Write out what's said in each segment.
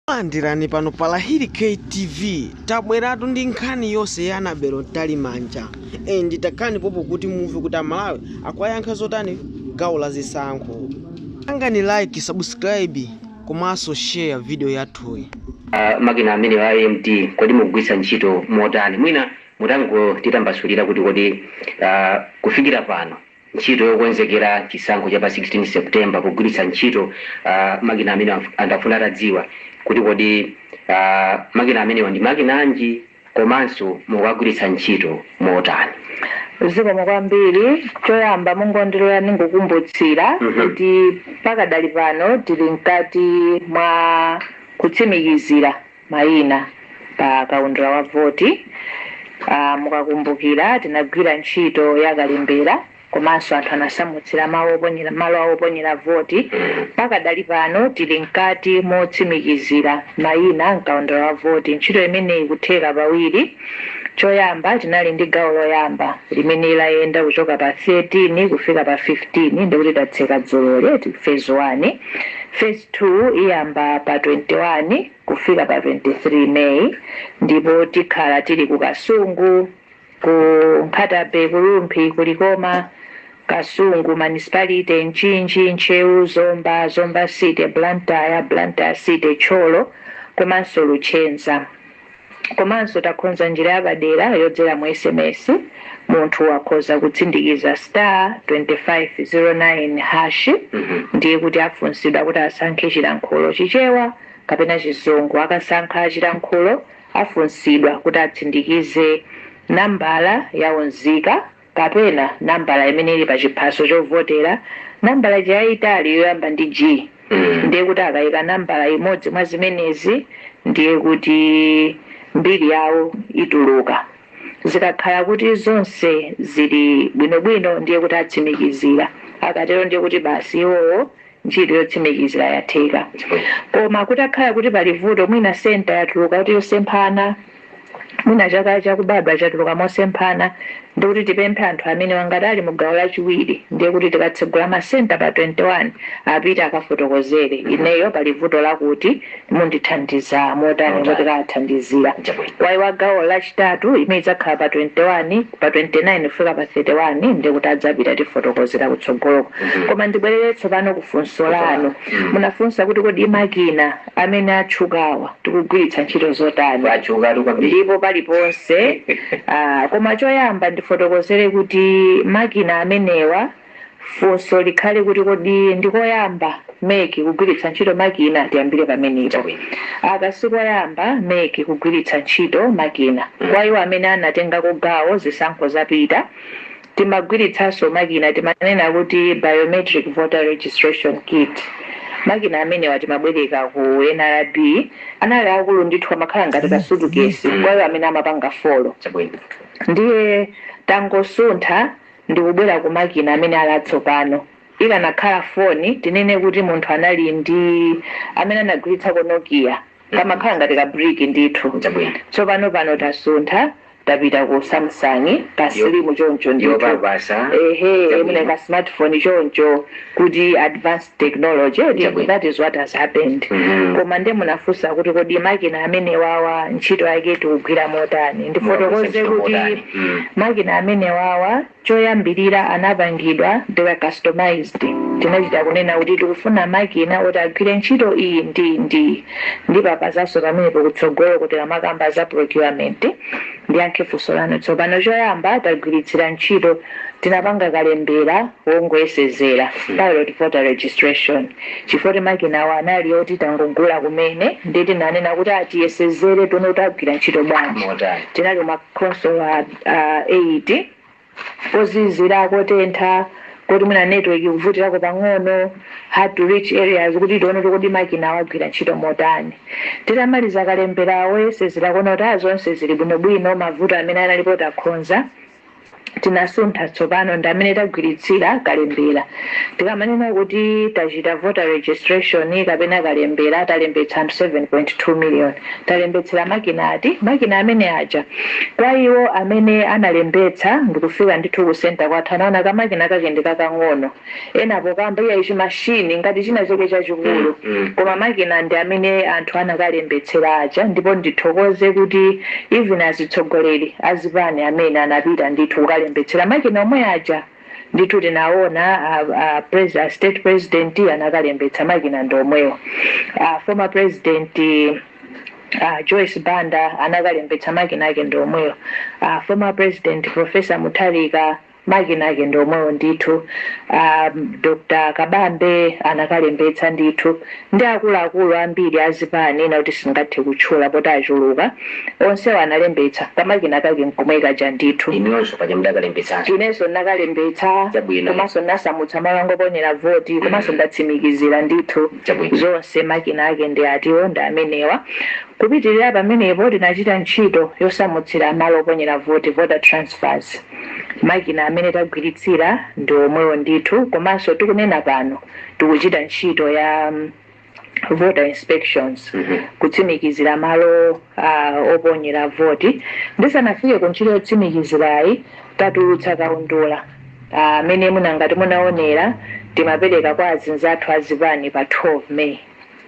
Landirani pano pa Lahiri K TV tabweratu ndi nkhani yonse ya Annabel Mtalimanja and takhalani pompo kuti mumve kuti Amalawi akuwayankha zotani gawo la zisankho. Pangani like, subscribe komanso share video yathuyi. Uh, makina amenewa a EMD kodi mukugwiritsa ntchito motani? Mwina mutangotitambasulira kuti kodi uh, kufikira pano Ntchito yokonzekera chisankho cha pa 16 September pogwiritsa ntchito makina amenewa, anthu akufuna atadziwa kuti kodi makina amenewa ndi makina anji komanso mukuwagwiritsa ntchito motani. Zikomo kwambiri. Choyamba mungondilora ndingokumbutsira kuti pakadali pano tili mkati mwa kutsimikizira. mayina pa kaundula wa voti. Mukakumbukira tinagwira ntchito ya kalembera komanso anthu anasamutsira ma oo ponyer malo awo oponyera voti. Pakadali pano tili mkati motsimikizira mayina m'kaundula wa voti. Ntchito imeneyi ikutheka pawiri. Choyamba tinali ndi gawo loyamba limene layenda kuchoka pa 13 kufika pa 15 ndikuti tatseka dzuloli, phase 1. Phase 2 iyamba pa 21 kufika pa 23 May ndipo tikhala tili ku Kasungu, ku Nkhata-bay, ku Rumphi, ku Likoma, Kasungu Municipality, Mchinji, Ntcheu, Zomba, Zomba city, Blantyre, Blantyre city, Thyolo komanso Luchenza. Komanso takonza njira yapadera yodzera mu sms munthu akhoza kutsindikiza star 2509 hash ndiye kuti afunsidwa kuti asankhe chilankhulo chichewa kapena chizungu akasankha chilankhulo afunsidwa kuti atsindikize nambala ya unzika kapena nambala imene ili pa chiphaso chovotera, nambala ija yayitali yoyamba ndi G, ndiye kuti akayika nambala imodzi mwa zimenezi ndiye kuti mbiri yawo ituluka. Zikakhala kuti zonse zili bwinobwino ndiye kuti atsimikizira. Akatero ndiye kuti basi iwowo Ntchito yotsimikizira yatheka. Koma kutakhala kuti pali vuto, mwina center yatuluka kuti yosemphana, mwina chaka chakubadwa chatuluka mosemphana, ndiye kuti tipemphe anthu amenewa ngati ali mu gawo lachiwiri, ndiye kuti tikatsegula ma center pa 21, apite akafotokozere, ineyo pali vuto lakuti. Mundithandiza motani? Kuti akawathandizira. Awo wa gawo lachitatu imene idzakhala pa 21 pa 29 kufika pa 31 ndiye kuti adzapita tifotokozera kutsogoloko koma ndibwerere tsopano ku funso lanu munafunsa kuti kodi makina amene atchukawa tikugwiritsa ntchito zotani ndipo paliponse ah, koma choyamba ndifotokozere kuti makina amenewa Funso likhale kuti kodi ndi koyamba MEC kugwiritsa ntchito makina? Tiyambire pamenepo. Aka si koyamba MEC kugwiritsa ntchito makina. Kwa iwo amene anatengako gawo zisankho zapita, timagwiritsanso makina timanena kuti Biometric Voter Registration Kit. Makina amenewa timabwereka ku NRB. Anali aakulu ndithu amakhala ngati ka sutukesi kwa iwo amene amapanga folo. Ndiye tangosuntha ndikubwera ku makina amene ali atsopano. Ikanakhala foni, tinene kuti munthu anali ndi, amene anagwiritsako Nokia, kamakhala ngati ka brick ndithu. Chabwino. Tsopano pano tasuntha tapita ku Samsung, ka Yo- slim choncho ndithu. yopapasa. Ehe, Chabwino. mwina ka smartphone choncho kuti advanced technology eti Chabwino. that is what has happened Mhm. koma nde munafunsa kuti kodi makina amenewawa ntchito yake tikugwira motani ndifotokoze kuti Mm. makina amenewawa choyambirira anapangidwa they were customized tinachita kunena kuti tikufuna makina oti agwire ntchito iyi ndi ndi ndipapasanso pamenepo kutsogolo tikamakamba za procurement ndiyankhe funso lanu tsopano choyamba tagwiritsira ntchito tinapanga kalembera wongoyesezera, pilot voter registration, chifukwa kuti makinawa anali oti tangogula kumene ndiye tinanena kuti ah, tiyesezere tione kuti agwira ntchito bwanji. Motani? Tinali m'makhonsolo a a 8 kozizira kotentha koti mwina network ikuvutirako pang'ono hard to reach areas kuti tione kuti kodi makinawa agwira ntchito motani titamaliza kalembera woyesezera kuona kuti ah, zonse zili bwinobwino mavuto amene analipo takhonza tinasuntha tsopano ndi amene tagwiritsira kalembera tikamanena kuti tachita voter registration kapena kalembera talembetsa anthu 7.2 million talembetsera makina ati makina amene aja kwa iwo amene analembetsa ndikufika ndithu ku center kwathu anaona kamakina kake ndi kakang'ono ena pokamba iyayi chimachine ngati china chake chachikulu mm, mm. koma makina ndi amene anthu anakalembetsera aja ndipo ndithokoze kuti even azitsogoleri azipani amene anapita ndithu kukalembetsera makina omwe aja ndithu tinaona a state president anakalembetsa makina ndi omwewo former president Uh, Joyce Banda anakalembetsa makina ake ndi omwewo uh, former president Professor Mutharika Makina ake ndi omwewo ndithu a Dr Kabambe anakalembetsa ndithu ndi akuluakulu ambiri a zipani ena oti sindingathe kutchula poti achuluka. Onsewo analembetsa, kamakina kake n'komwe kaja ndithu. Inuyonso paja mudakalembetsanso? Inenso ndinakalembetsa Chabwino. komanso ndinasamutsa malo anga oponyera voti komanso ndatsimikizira ndithu Chabwino. zonse. Makina ake ndi atiwo? Ndi amenewa. Kupitirira pamenepo tinachita ntchito yosamutsira malo oponyera voti, voter transfers. Makina amene tagwiritsira ndi omwewo ndithu komanso tikunena pano tikuchita ntchito ya voter inspections kutsimikizira malo a oponyera voti. Ndisanafike ku ntchito yotsimikizirayi tatulutsa kaundula amene mwina ngati munaonera timapereka kwa anzathu a zipani pa 12 May.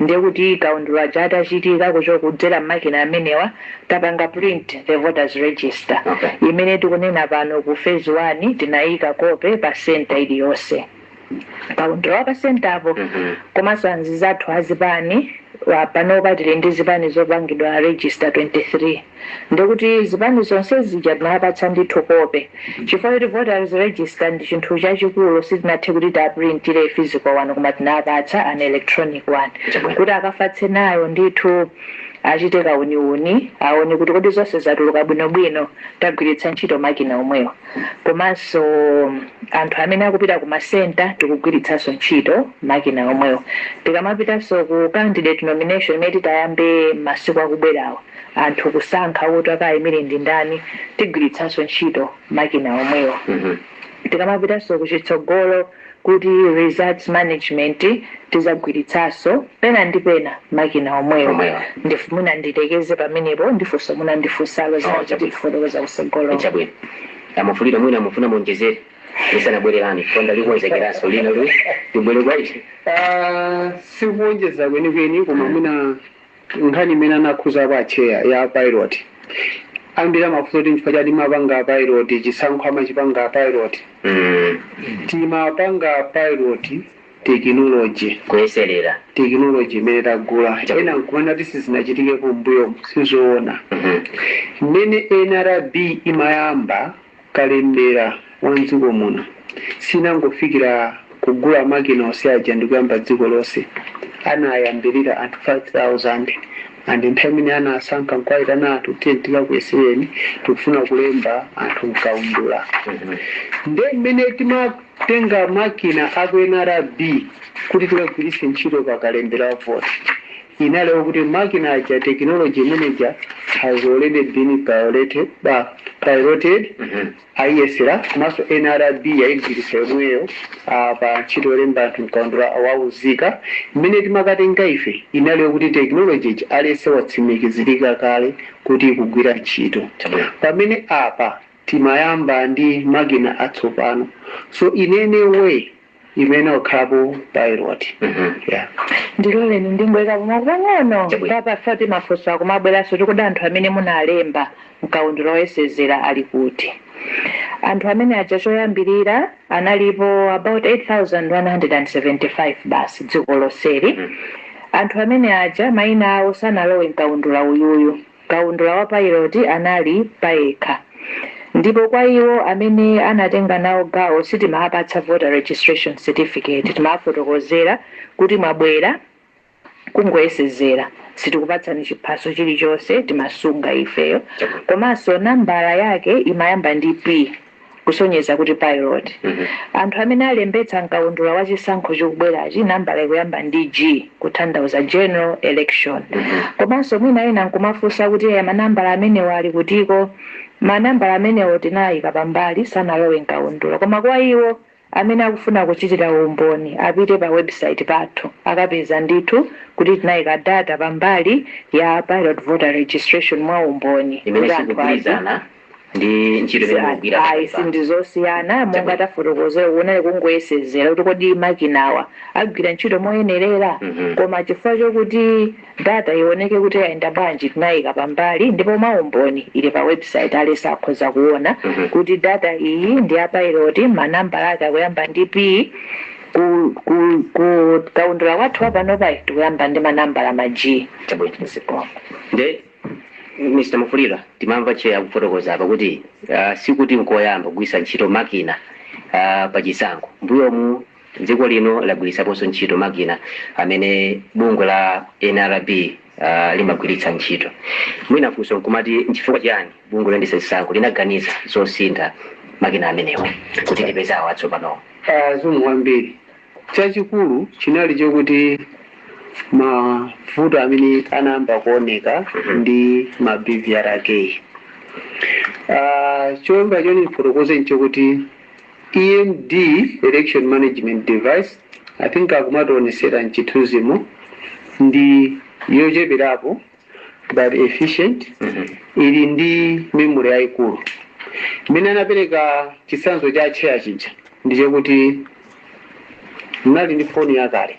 Ndiye kuti kaundula uja atachitika choncho kudzera m'makina amenewa tapanga print the voters register okay. Imene tikunena pano ku phase 1 tinayika kope pa center iliyonse kaundula wa pa center po mm -hmm. komanso anzathu azipani panopa tili ndi zipani zopangidwa register 23 ndekuti zipani zonse zija tinazipatsa ndithu kope chifukwa choti voters register ndi chinthu chachikulu sitinathe kuti tiwaprintire physical one koma tinawapatsa an electronic one kuti akafatse nayo ndithu achite kauniuni aone kuti kodi zonse zatuluka bwinobwino tagwiritsa ntchito makina omwewo komanso anthu amene akupita ku masenta tikugwiritsanso ntchito makina omwewo tikamapitanso ku candidate nomination imene titayambe mmasiku akubwerawa anthu kusankha kuti akayimire ndi ndani tigwiritsanso ntchito makina omwewo tikamapitanso kuchitsogolo kuti results management tizagwiritsanso pena ndi pena makina omwewo Omwewo. ndifu mwina nditsekeze pamenepo ndifunso mwina ndifusalo Oh, zina chabwino. zatifotokoza kusogolo chabwino a Mwafulirwa mwina mumafuna muonjezere lisanabwere konda likonzekeranso lina lu tibwere kwa ife Ah, sikuwonjeza kwenikweni koma mwina nkhani imene anakhudzako atcheya ya pilot ambiri amafunsa kuti nchifukwa chani timapanga pilot chisankho samachipanga pilot timapanga pilot tekinoloji kuyeserera tekinoloji imene tagula ena nkumanena kuti sizinachitikepo mbuyomu sizoona mmene nrb imayamba kalembera wa mdziko muno sinangofikira kugula makina onse aja ndikuyamba dziko lonse. Anayambirira anthu 5000 and anthu amene anawasankha nkuwaitana anthu kuti tiyeni tikakuyesereni tikufuna kulemba anthu mkaundula. Nde mmene tima Kutenga makina a ku nrb kuti tiwagwiritse ntchito pa kalembera wa voti inali okuti makina aja technology imene ija has already been piloted, piloted ayiyesera komanso nrb yayigwiritsa yomweyo ah, pa ntchito yolemba anthu mkaundula wa unzika imene timakatenga ife inali yokuti technology ija yatsimikizirika kale kuti ikugwira ntchito Chabwino. pamene apa timayamba ndi makina atsopano so in any way imayenera kukhalapo pilot yeah. ndiloleni ndingoyikapo mau pang'ono Chabwino. paja timafunso tikumabweranso kuti kodi anthu amene munalemba mkaundula woyesezera ali kuti anthu amene aja choyambirira analipo about 8175 basi dziko lonseli anthu amene aja mayina awo sanalowe mkaundula uyuyu Kaundula wa pailoti anali payekha ndipo kwa iwo amene anatenga nawo gawo sitimawapatsa voter registration certificate timawafotokozera kuti mwabwera kungoyesezera sitikupatsani chiphaso chilichonse timasunga ifeyo komanso nambala yake imayamba ndi P. kusonyeza kuti pilot anthu amene alembetsa mkaundula wa chisankho chikubwerachi nambala ikuyamba ndi G kuthandauza general election komanso mwina ena nkumafunsa kuti "Eh, manambala amenewo ali kutiko manambala amenewo tinayika pambali sanalowe mkaundula koma kwa iwo Amene akufuna kuchitira umboni apite pa website pathu akapeza ndithu kuti tinaika data pambali ya pilot voter registration mwa umboni imene kuti anthu aziona. sikugwirizana ndi ntchito imene Ayi, mukugwira pakali pano. sindizosiyana monga Chabwino. tafotokozera kunali kungoyesezera kuti kodi makinawa agwira ntchito moyenerera Mhm. koma chifukwa chokuti Data iwoneke kuti yayenda bwanji tinayika pambali ndipo mwa umboni ili pa website aliyese akhoza kuwona kuti data iyi ndi ya pilot manambala ake akuyamba ndi P ku ku ku kaundula kwathu kwa panopayi tikuyamba ndi ma nambala ma G. Chabwino. Zikomo. Nde Mr Mufulirwa timamva tcheya akufotokoza apa kuti ah, sikuti nkoyamba kugwiritsa ntchito makina ah, pa chisankho. Mbuyomu Dziko lino lagwiritsaponso ntchito makina amene bungwe la nrb limagwiritsa ntchito. Mwina funso nkumati nchifukwa chiyani bungwe loyendetsa zisankho linaganiza zosintha makina amenewo kuti lipeze awa atsopanowa? Zikomo kwambiri. Chachikulu chinali chokuti mavuto amene anayamba kuoneka ndi ma BVR akeyi, cholinga choti ndifotokoze nchokuti, EMD, Election Management Device, I think akumationesera mchithunzimo ndi yocheperapo but efficient ili ndi memory yayikulu mmene anapereka chitsanzo cha atcheya chija ndi chakuti munali ndi foni yakale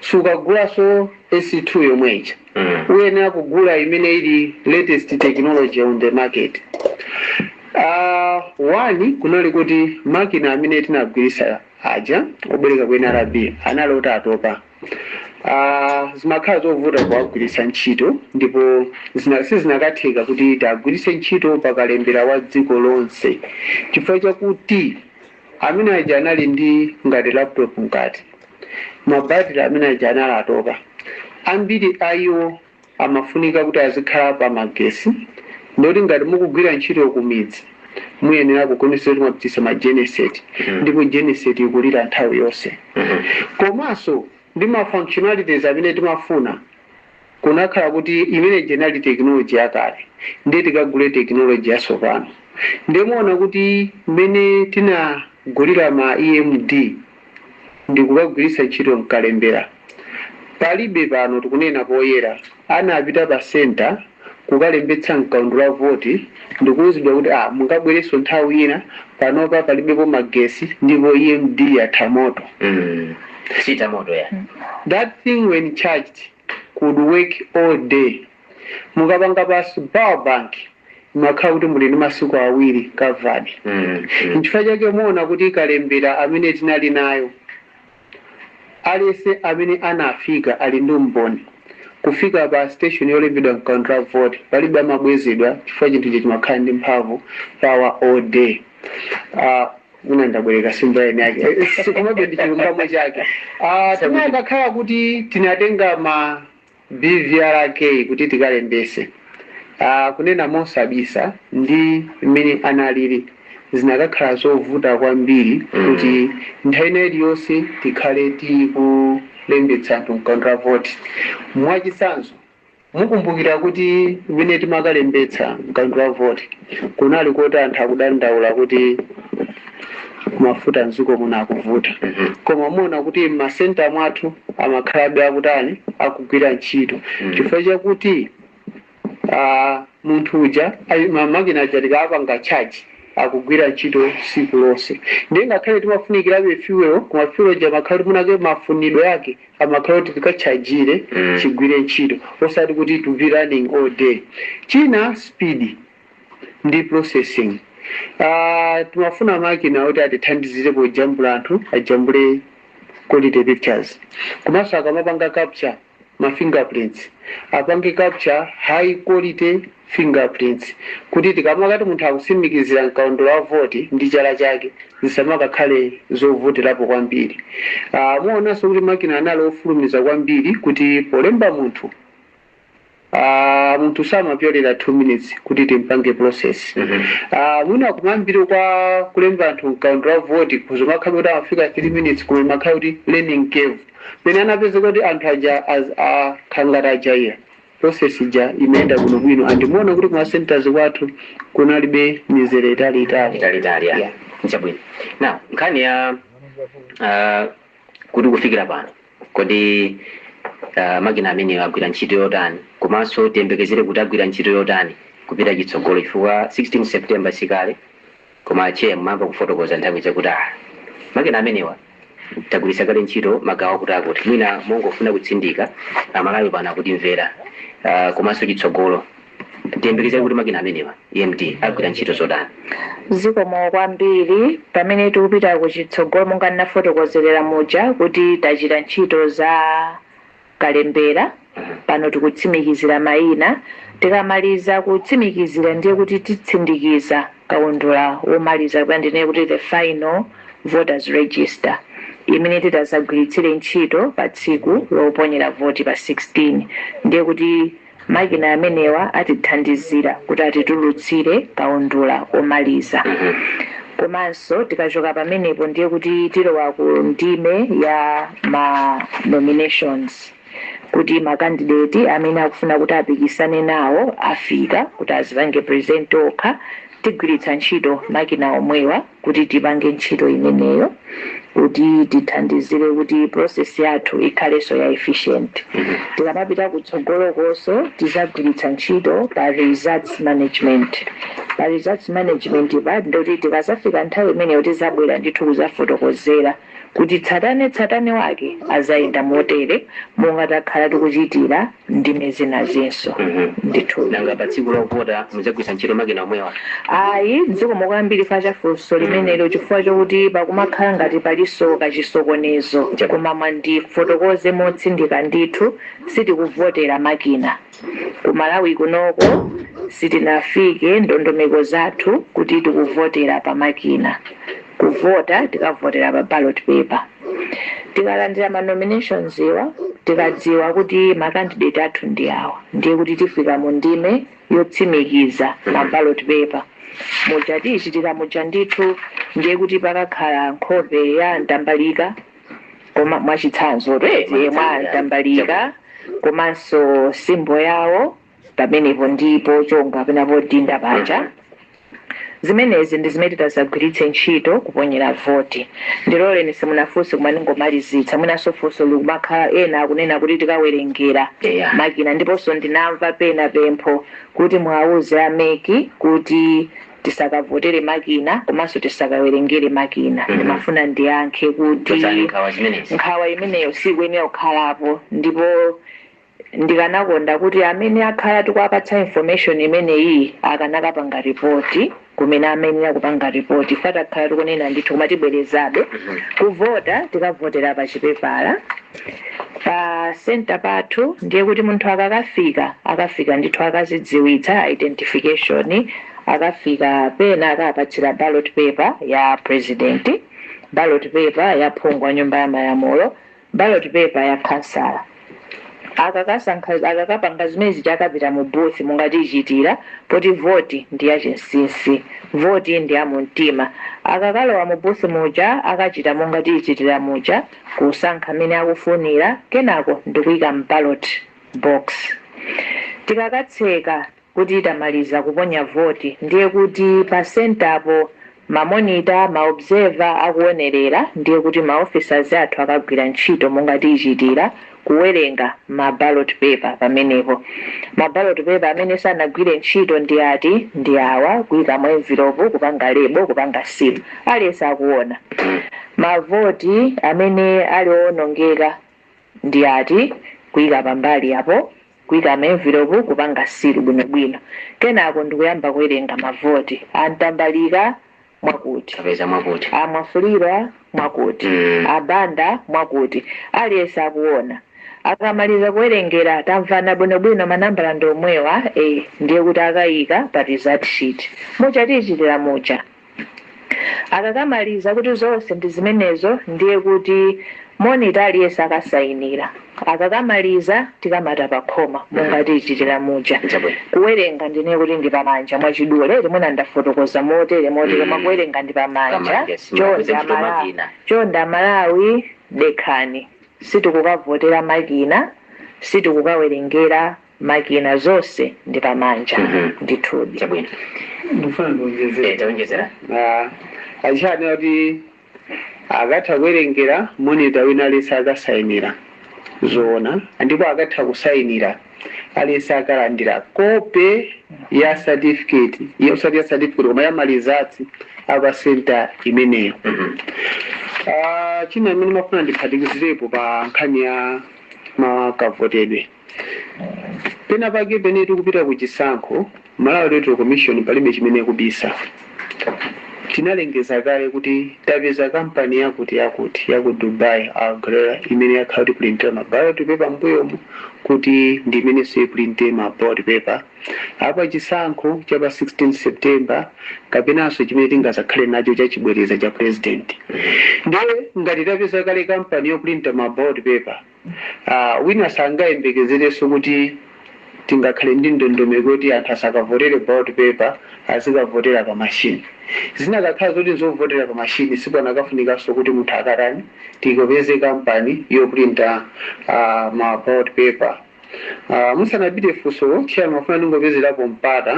sukagulanso S2 yomwe ija uyenera kugula imene ili latest technology on the market Ah, one kunali kuti makina amene tinagwirisa aja obwereka ku NRB anali oti atopa Ah, zimakhala zovuta kuwagwiritsa ntchito ndipo zina- sizinakatheka kuti tiagwiritse ntchito pa kalembera wa dziko lonse chifukwa chakuti Amene aja anali ndi ngati laptop mkati. Ma battery amene aja anali atopa. Ambiri a iwo amafunika kuti azikhala pa magesi, ndiye kuti ngati mukugwira ntchito ku midzi, muyenera kuonetsetsa kuti mwapititsa ma genset, ndipo genset ikulira nthawi yonse. Komanso ndi ma functionalities amene timafuna. kunakhala kuti imene ija inali technology yakale ndiye tikagule technology yatsopano ndiye muona kuti mmene tinagulira ma EMD ndikukagwiritsa ntchito mkalembera palibe pano tikunena poyera anapita pa center kukalembetsa mkaundula wa voti ndikuuzidwa kuti ah mukabwerenso nthawi ina panopa palibepo magesi ndipo EMD yatha moto mm. Siita moto ya. That thing when charged could work all day. Mukapanga plus power bank imakhala kuti muli ndi masiku awiri covered. Mm, mm. Nchifukwa chake muona kuti kalembera amene tinali nayo aliyense amene anafika ali ndi umboni kufika pa station yolembedwa mkaundula wa voti palibe amabwezedwa chifukwa chinthu chija chimakhala ndi mphamvu power all day. Uh, mwina ndabwereka ndi simple English yake sikumabe ndi chilungamo chake Ah, tinakakhala kuti tinatenga ma BVRK kuti tikalembetse Ah, kunena mosabisa ndi mmene analili zinakakhala zovuta kwambiri kuti nthawi ina iliyonse tikhale tikulembetsa anthu mkaundula wa voti mwachitsanzo Mukumbukira kuti mmene timakalembetsa mkaundula wa voti kunali koti anthu akudandaula kuti mafuta mdziko muno akuvuta koma muona kuti mma centre mwathu amakhalabe akutani akugwira ntchito chifukwa chakuti aah munthu uja ayi ma makina aja tikawapanga charge akugwira ntchito tsiku lonse ndiye ngakhale timafunikirabe fuel koma fuel ija imakhala kuti mwinake mafunidwe ake amakhala oti tikatchajire chigwire ntchito osati kuti to be running all day china speed ndi processing aah timafuna makina oti atithandizire pojambula anthu ajambule quality pictures komanso akamapanga capture ma fingerprints apange capture high quality fingerprints, kuti tikamakati munthu akusimikizira mkaundula wa voti ndi chala chake zisamakakhale zovutirapo kwambiri. Aaa muonanso kuti makina anali ofulumiza kwambiri kuti polemba munthu aaa munthu samapyolera 2 minutes kuti timpange process. Aaa mwina kumayambiriro kwa kulemba anthu mkaundula wa voti zikhoza kumakhala kuti amafika 3 minutes koma imakhala kuti learning curve. Pamene anapezeka kuti anthu aja aaa akhala ngati ajaira process ija imayenda bwino bwino and munaona kuti kuma centers kwathu kunalibe mizere itali itali Yeah. nchabwino now nkhani ya ah, kuti kufikira pano kodi ah, makina amenewa agwira ntchito yotani komanso tiyembekezere kuti agwira ntchito yotani kupita chitsogolo chifukwa 16 september sikale Koma Chair mumayamba kufotokoza nthawi ija kuti aah makina amenewa tagwiritsa kale ntchito magawo akuti akuti mwina mongofuna kutsindika amalawi pano akutimvera aah komanso chitsogolo tiyembekezere kuti makina amenewa EMD agwira ntchito yotani? Zikomo kwambiri. Pamene tikupita kuchitsogolo monga ndinafotokozerera muja kuti tachita ntchito za. kalembera. Pano tikutsimikizira mayina. Tikamaliza kutsimikizira ndiye kuti titsindikiza kaundula womaliza kapena ndinene kuti the final voters register imene titazagwiritsire ntchito pa tsiku loponyera voti pa 16. Ndiye kuti. Makina amenewa atithandizira kuti atitulutsire kaundula womaliza. Komanso tikachoka pamenepo ndiye kuti tilowa ku ndime ya ma nominations kuti ma candidate amene akufuna kuti apikisane nawo afika kuti azipange present okha. Tigwiritsa ntchito makina omwewa. kuti tipange ntchito imeneyo kuti tithandizire kuti process yathu ikhalenso ya efficient. Tikamapita kutsogolokonso tizagwiritsa ntchito pa results management. Pa results management pa ndingoti tikazafika nthawi imeneyo tizabwera ndithu kuzafotokozera kuti tsatane tsatane wake azayenda motere monga takhala tikuchitira. ndime zinazinso Mhm. ndithu nanga pa tsiku lovota mudzagwiritsa ntchito makina omwewa ayi zikomo kwambiri chifukwa cha funso limenelo chifukwa chokuti pakumakhala ngati palinso kachisokonezo koma mwina ndifotokoze motsindika ndithu sitikuvotera makina ku malawi kunoko sitinafike ndondomeko zathu kuti tikuvotera pa makina kuvota tikavotera pa ballot paper tikalandira ma nominations wa tikadziwa kuti ma candidate athu ndi awa ndiye kuti tifika mu ndime yotsindikiza ma ballot paper muja tichitikira muja ndithu ndiye kuti pakakhala nkhope ya a Mtambalika mwachitsanzo eti mwa a Mtambalika komanso simbo yawo pamenepo ndi pochonga kapena podinda paja zimenezi ndi zimene titadzagwiritse ntchito kuponyera voti ndiloleni musanafunse koma ndingomalizitse mwinanso funso limakhala ena akunena kuti tikawerengera Yeah. makina ndiponso ndinamva pena pempho kuti muwauze a MEC kuti tisakavotere makina komanso tisakawerengere makina Mhm. ndimafuna ndiyankhe kuti nkhawa imeneyo sikuyenera kukhalapo ndipo Ndikanakonda kuti amene akhala akuwapatsa information imeneyiyi akanakapanga report kumene amayenera kupanga report ife takhala tikunena ndithu koma tibwerezabe. Kuvota tikavotera pa chipepala pa center pathu ndiye kuti munthu akakafika akafika ndithu akadzidziwitsa identification akafika pena akapatsidwa ballot paper ya president, ballot paper ya phungu wa nyumba ya malamulo. ballot paper ya khansala akakapanga zimene zija akapita mu booth monga tichitira poti voti ndi ya chinsinsi voti ndi ya mumtima akakalowa mu booth muja akachita monga tichitira muja kusankha amene akufunira kenako ndikuika m'ballot box tikakatseka kuti tamaliza kuponya voti ndiye kuti pa sentapo ma monitor, ma observer akuonerera ndiye kuti ma officers athu akagwira ntchito monga tichitira, kuwerenga ma ballot paper pamenepo. Ma ballot paper amene sanagwire ntchito ndi ati? Ndi awa, kuika mu envelopu, kupanga label, kupanga seal. Aliyense akuona. Ma voti amene ali owonongeka ndi ati? Kuika pambali apo. kuika m'envilopu, kupanga seal bwinobwino, kenako ndikuyamba kuwerenga mavoti. A Mtambalika, mwakuti. A Mwafulirwa, mwakuti. A Banda, mwakuti. Aliyense akuona. Akamaliza kuwerengera, tamvana bwinobwino, manambala ndi omwewa, ee, ndiye kuti akaika pa result sheet muja monga tichitira muja. Akakamaliza kuti zonse ndi zimenezo ndiye kuti monitor aliyense akasainira. Akakamaliza tikamata pakhoma monga tichitira muja. Chabwino. Kuwerenga ndinene kuti ndi pamanja mwachidule eti mwina ndafotokoza motere motere koma Mm. kuwerenga ndi pamanja. Pamanja, yes, Chonde Amalawi dekhani. Sitikukavotera makina, sitikukawerengera makina zonse ndi pamanja Mhm. ndithudi chabwino ndifuna ndiwonjezere tawonjezera a Chair anena kuti akatha kuwerengera monita wina aliyense akasayinira zoona ndipo akatha kusayinira aliyense akalandira kope ya certificate iyo osati ya certificate koma ya ma results a pa senta imeneyo Ah, china chimene ndimafuna ndiphatikizirepo pa nkhani ya makavotedwe Penapake pene tikupita ku chisankho, Malawi Electoral Commission palibe chimene ikubisa. Tinalengeza kale kuti tapeza kampani yakuti yakuti ya ku Dubai, Al Ghurair, imene yakhala kutipulintira ma ballot paper m'mbuyomu kuti ndi imenenso ipulinte ma ballot paper a pa chisankho cha pa 16 September kapenanso chimene tingadzakhale nacho cha chibwereza cha pulezidenti. Ndiye ngati tapeza kale kampani yopulinta ma ballot paper, Wina sangayembekezerenso kuti tingakhale ndi ndondomeko yoti anthu asakavotere ballot paper azikavotera pa machine. Zikanakhala zoti nzovotera pa machine sipakanafunikanso kuti munthu akatani tikapeze kampani yoprinta ma ballot paper. Musanapite funsolo chairman ndimafuna ndingopezerapo mpata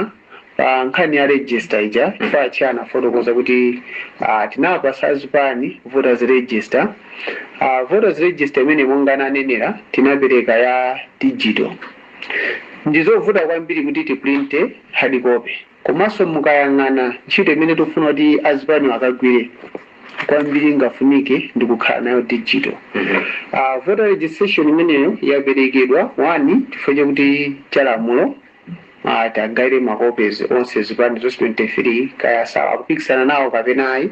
Pa nkhani ya register ija chifukwa atcheya anafotokoza kuti ah, tinawapasa azipani voters register ah, voters register imene monga ananenera tinapereka ya digital ndizovuta kwambiri kuti tiprinte hard copy komanso mukayang'ana ntchito imene tikufuna kuti azipani akagwire kwambiri ingafunike ndi kukhala nayo digital uh, voter registration imeneyo yaperekedwa one chifukwa chakuti chalamulo a tagawira ma copies onse zipani zonse 23 kaya awa akupikisana nawo kapena ayi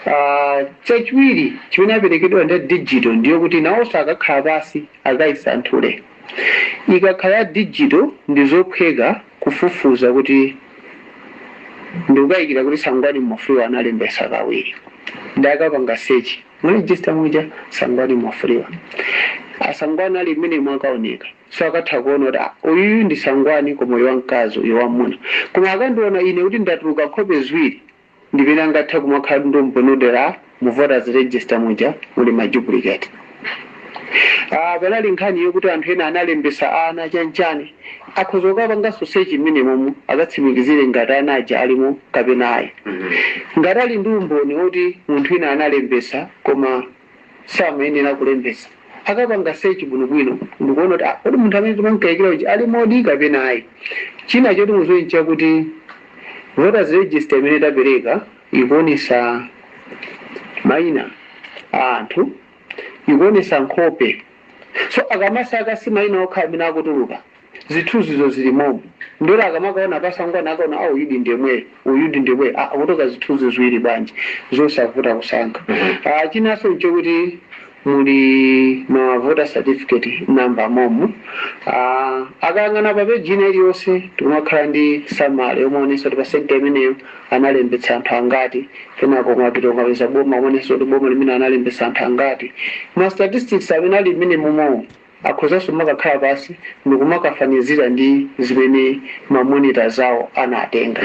Ah, chachiwiri chimene aperekedwa ndi digital ndiyo kuti nawonso akakhala pansi akayisanthule ikakhala ya digital ndi zophweka kufufuza kuti ndikukayikira kuti Sangwani Mwafulirwa analembetsa kawiri ndiye akapanga search mu register muja Sangwani Mwafulirwa a Sangwani ali mmenemo akaoneka so akatha kuona kuti ah uyuyu ndi Sangwani koma uyu wamkazi uyu wamwamuna koma akandiona ine kuti ndatuluka nkhope ziwiri ndimene angathe kumakhala kuti ndi umboni oti mu voters register muja muli ma duplicate Ah, panali nkhani yokuti anthu ena analembetsa ana chanchani akhoza kukapanganso search mmenemomo akatsimikizire ngati ana aja alimo kapena ayi ngati ali ndi umboni woti munthu wina analembetsa koma samayenera kulembetsa. Akapanga search bwinobwino ndikuona kuti ah, kodi munthu amene timamkayikira uja alimodi kapena ayi. China choti mudziwe nchakuti voters register imene tapereka ikuonetsa maina a anthu ikuonetsa nkhope so akamasaka si maina okha amene akutuluka zithuzizo zili momo ndiyeno akamakaona pa Sangwani akaona a uyudi ndi yemweyo uyudi ndi yemweyo akutuluka zithuzi ziwiri bwanji zosavuta kusankha a chinanso nchokuti muli ma voter certificate number momo a akayang'ana pa page ina iliyonse pakumakhala ndi summary yomaonetsa kuti pa center imeneyo analembetsa anthu angati kenako kumapita kumapeza boma kumaonetsa kuti boma limeneli analembetsa anthu angati ma statistics amene ali mmenemomowo Akhozanso kumakakhala pansi ndikumakafanizira ndi zimene ma monitors awo anatenga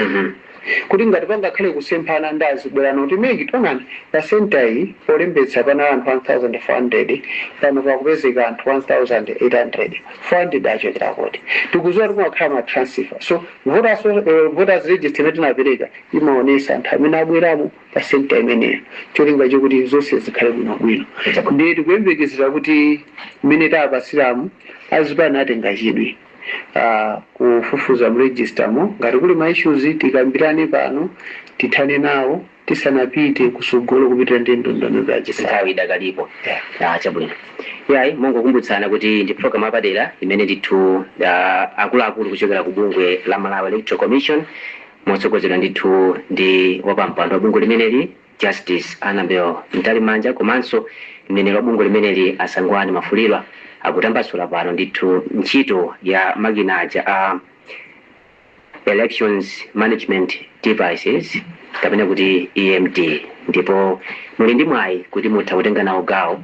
kuti ngati pangakhale kusemphana nde azibwera kuno kuti mec taonani pa centre iyi polembetsa panali anthu 1400 pano pakupezeka anthu 1800, 400 achokera kuti? Tikuziwa kuti kumakhala ma transfer so voters register imene tinapeleka imaonesa anthu amene abweramo. pa centre imeneyo cholinga chokuti zonse zikhale bwino bwino ndiye tikuyembekezera kuti mmene tapatsiramu azipani atenga chidwi ah, kufufuza mu register mo ngati kuli ma issues tikambirane pano tithane nawo tisanapite kusogolo kupitira ndi ndondomeko ya chisankho nthawi idakalipo Ah, chabwino yayi mongokumbutsana kuti ndi program apadera imene ndithu ah, akuluakulu kuchokera ku bungwe la malawi electoral commission motsogozedwa ndithu ndi wapampando wa bungwe limeneli Justice Anabel Mtalimanja komanso mneneri wa bungwe limeneli a Sangwani Mwafulirwa akutambasula pano ndithu ntchito ya makina aja a Elections Management Devices kapena kuti EMD ndipo muli ndi mwayi kuti mutha kutenga nawo gawo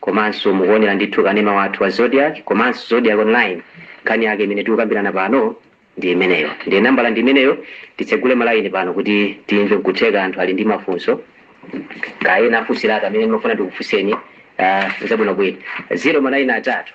komanso mukuonera ndithu kanema wathu wa zodiak komanso zodiak online nkhani yake imene tikukambirana pano ndi imeneyo ndiye nambala ndi imeneyo titsegule malayini pano kuti timve nkutheka anthu ali ndi mafunso kaya ena afunsiratu amene ndimafuna ndikufunseni uh, zabwinobwino zero manayini atatu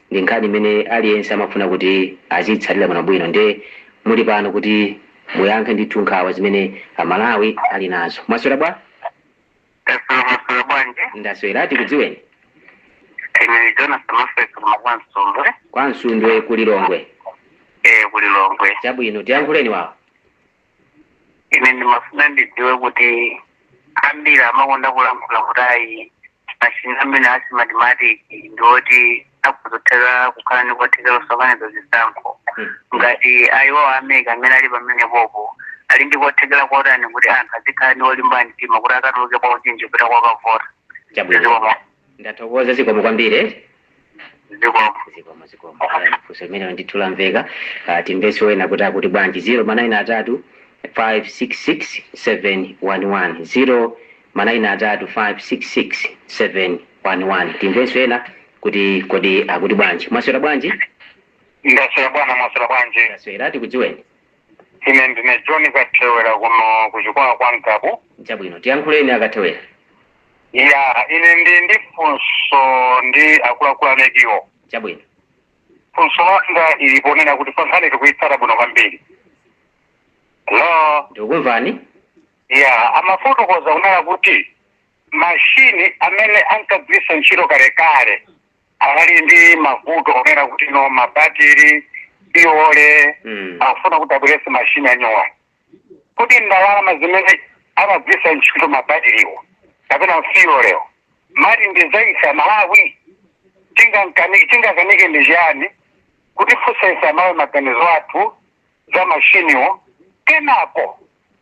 ndi nkhani imene aliyense amafuna kuti aziitsatira bwinobwino nde muli pano kuti muyankhe ndithu nkhawa zimene Amalawi ali nazo. Mwaswera bwa? Taswera mwaswera bwanji? Ndaswera tikudziweni. Ine Jonas Mafek koma kwa Msundwe. Kwa Msundwe ku Lilongwe. Eh, ku Lilongwe. Chabwino tiyankhuleni wawo. ine ndimafuna ndidziwe kuti ambiri amakonda kulankhula kuti ayi mashini amene a Smartmatic ndi oti akudzathera kukhala ndi kuthekera kusokoneza zisankho ngati iwo a MEC amene ali pamenepopo ali ndi kuthekera kotani kuti anthu azikhala ndi kulimba mtima kuti akatuluke mwaunyinji kupita kokavota chabwino Ndathokoza zikomo kwambiri. zikomo zikomo zikomo Alright, funso limenelo ndithu lamveka Ah, timvenso ena kuti akuti bwanji 0 manayini atatu 566711 0 manayini atatu 566711 timvenso ena kuti kodi akuti bwanji mwaswera bwanji ndaswera bwana mwaswera bwanji ndaswera tikudziweni ine ndine john kathewera kuno kuchikwawa kwa ngabu chabwino tiyankhuleni akathewera ya ine ndi ndi funso ndi akuluakulu a MEC-wo chabwino funso langa lili ponena kuti ife nkhani tikuyitsata bwino kwambiri ndipo ndikukumvani iyayi amafotokoza kunena kuti mashini amene ankagwiritsa ntchito kalekale anali ndi mavuto onena kuti no mabatiri fiyole Mm. akufuna kuti abweretse mashini anyowani kodi ndalama zimene amagwiritsira ntchito mabatiriwo kapena fiyoleyo mmati ndi za ife aMalawi tingankanike tingakanike ndi chiyani kuti funsa ife aMalawi maganizo athu za mashiniwo kenako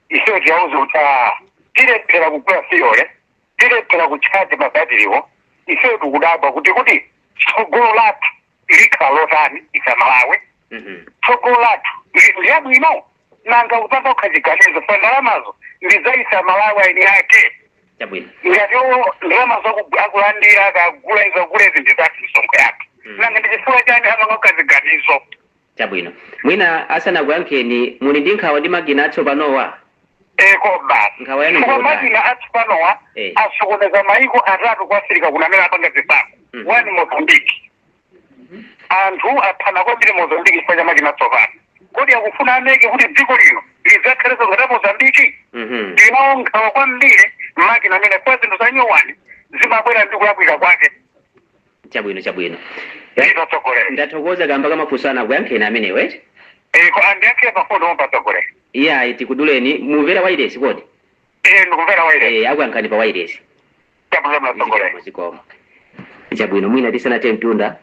ifeyo tiwauze kuti "Ah, tilephera kugula fiyole tilephera kutchaja mabatiriwo ifeyo tikudabwa kuti kodi tsogolo lathu likhala lotani ife aMalawi Mhm. tsogolo lathu ndi labwino nanga akupanga okha ziganizo pa ndalamazo ndi za ife aMalawi eni ake Chabwino. ngati iwo ndalama zaku- akulandira akagula izi agula izi ndizathu misonkho yathu Mm. nanga ndichifukwa chani amamanga okha ziganizo Chabwino. Mwina asanakuyankheni, muli ndi nkhawa ndi makina atsopanowa? eko basi Nkhawa yanu chifukwa ndiyotani? makina atsopanowa Eh. asokoneza maiko atatu ku Afirika kuno amene apanga zisankho Mhm. ku Mozambiki anthu aphana kwambiri mozambiki chifukwa cha makina atsopano kodi akufuna a MEC kuti dziko lino lidzakhalenso ngati la Mozambiki Mhm. ndinawo nkhawa kwambiri makina amenewa zinthu zanyowani zimabwera ndi kulakwika kwake Chabwino, chabwino. Nda, Zikomo atsogoleri. ndathokoza kamba ka mafunso anu akuyankheni amenewo eti. Eh, ko andiyankhire mafunso amenewo atsogoleri. Iyayi tikuduleni mumvera wailesi kodi? Eh, ndikumvera wailesi. Eh, akuyankhani pa wailesi. Chabwino Zikomo, atsogoleri. zikomo. Chabwino mwina tisanathe mtunda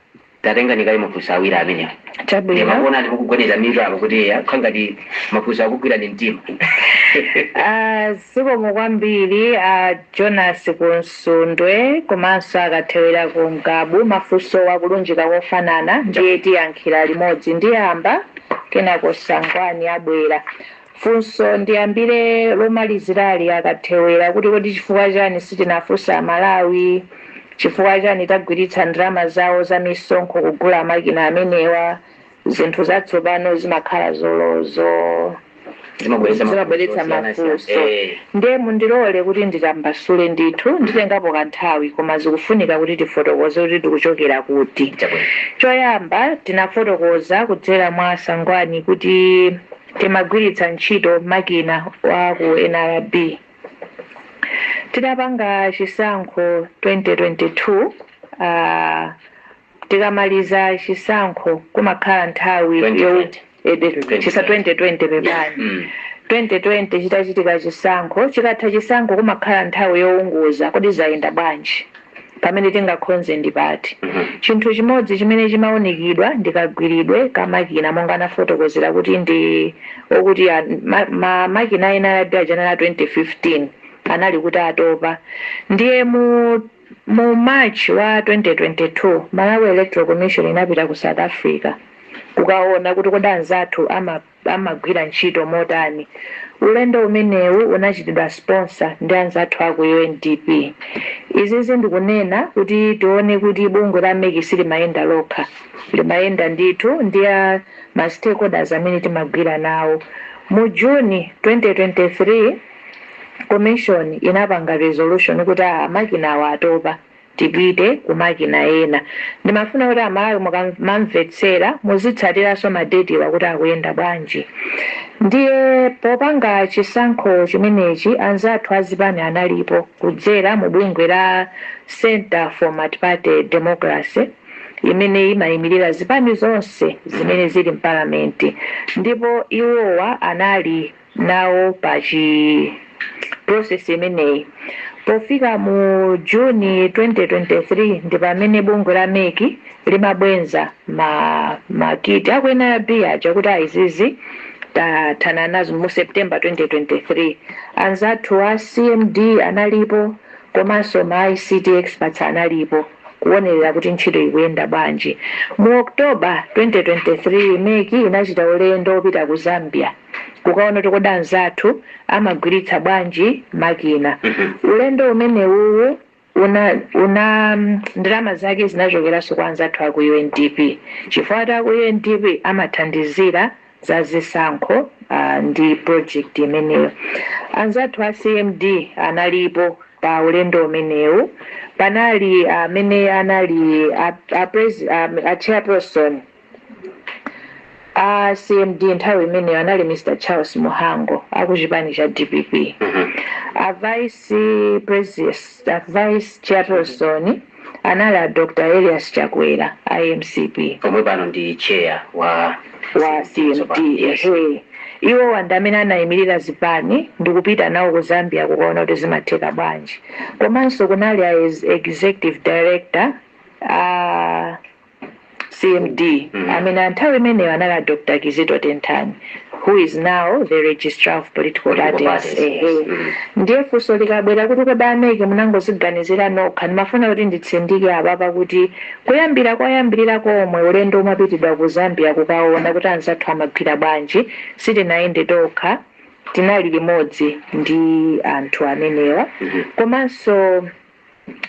titenge kaye mafunso awiri amenewo. Inde Chabwino. Ndakuonani mukugwedeza mitu apo kuti eya kukhala ngati mafunso akugwirani mtima. Ah, zikomo kwambiri a Jonas ku Sundwe komanso a Kathewera ku Mgabu mafunsowa akulunjika kofanana ndiye tiyankhira limodzi. Ndiyamba kenako Sangwani abwera. Funso ndiyambire lomalizirali la a Kathewera kuti kodi chifukwa chani sitinafunse amalawi chifukwa chani tagwiritsa ndalama zawo za misonkho kugula makina amenewa? zinthu zatsopano zimakhala zolozo zimabweretsa mafunso zimabweretsa osiyana siyana. mafunso Eh, ndiye mundilole kuti nditambasule ndithu nditengapo kanthawi koma zikufunika kuti tifotokoze kuti tikuchokera kuti chabwino choyamba tinafotokoza kudzera mwa a Sangwani kuti timagwiritsa ntchito makina a ku nrb tidapanga chisankho 2022 uh, tikamaliza chisankho kumakhala nthawi yo- 2020 chisa 2020 pepani mm. 2020 chitachitika chisankho chikatha chisankho kumakhala nthawi yowunguza kodi zayenda bwanji pamene tingakonze ndi pati Mhm. chinthu chimodzi chimene chimaunikidwa ndikagwiridwe ka makina monga anafotokozera kuti ndi okuti a- ma- ma- makina ena aja anali a 2015 anali kuti atopa ndiye mu Mu March wa 2022, Malawi Electoral Commission inapita ku South Africa kukaona kuti kodi anzathu amagwira ntchito motani. Ulendo umenewu unachitidwa sponsor ndi anzathu a ku UNDP. Izizi ndikunena kuti tione kuti bungwe la mec silimayenda lokha, limayenda ndithu ndi a ma stakeholders amene timagwira nawo. Mu June 2023. Commission inapanga resolution kuti aa makinawa atopa tipite ku makina ena. Ndimafuna kuti amalawi mukamamvetsera muzitsatiranso ma date wa kuti akuyenda bwanji. Ndiye popanga chisankho chimenechi anzathu azipani analipo kudzera mu bungwe la Centre for Multiparty Democracy imene imayimilira zipani zonse zimene zili mpalamenti ndipo iwowa anali nawo pa chi process imeneyi. Pofika mu June 2023 ndi pamene bungwe la mec limabweza ma ma kit aku nrb aja kuti aa izizi tathana nazo mu September 2023. Anzathu a CMD analipo komanso ma ICT experts analipo kuonelera kuti ntchito ikuyenda bwanji. Mu October 2023 mec inachita ulendo opita ku Zambia. kukaona kuti kodi anzathu amagwiritsa bwanji makina ulendo umenewuwu una, una ndalama zake zinachokeranso kwa anzathu aku UNDP chifukwa a- aku UNDP amathandizira za zisankho uh, ndi project imeneyo anzathu a CMD analipo pa ulendo umenewu panali amene anali a, a, pres- a, a chairperson a cmd nthawi imeneyo anali mr charles muhango akuchipani cha dpp a vice president a vice chairperson anali a dr elias chakwera a mcp omwe pano ndi chair wa wa cmd Yes. ehe iwowa ndi amene anayimirira zipani ndikupita nawo ku zambia kukaona kuti zimatheka bwanji komanso kunali a ex- executive director a CMD, amene nthawi imeneyo anali a Dr. Kizito Tenthani who is now the registrar of political parties. Ehe. Ndiye funso likabwera kuti kodi a MEC munangoziganizira nokha ndimafuna kuti nditsindike apapa kuti kuyambira koyambirira komwe ulendo umapitidwa ku Zambia kukaona kuti anzathu amagwira bwanji sitinayende tokha tinali limodzi ndi anthu amenewa komanso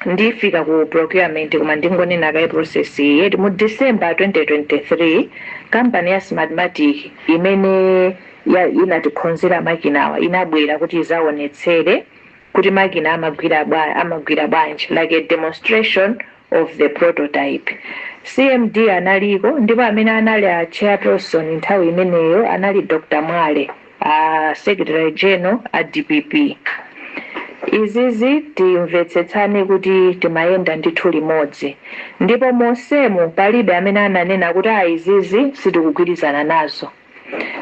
ndifike ku procurement koma ndingonena kaye process iyi eti mu december 2023 kampani ya smartmatic imene ya- inatikhonzera makinawa inabwera kuti izaonetsere kuti makina amagwira bwa- amagwira bwanji like a demonstration of the prototype cmd analiko ndipo amene anali a chairperson nthawi imeneyo anali dr mwale a secretary general a dpp izizi timvetsetsane kuti timayenda ndithu limodzi ndipo monsemu palibe amene ananena kuti a izizi sitikugwirizana nazo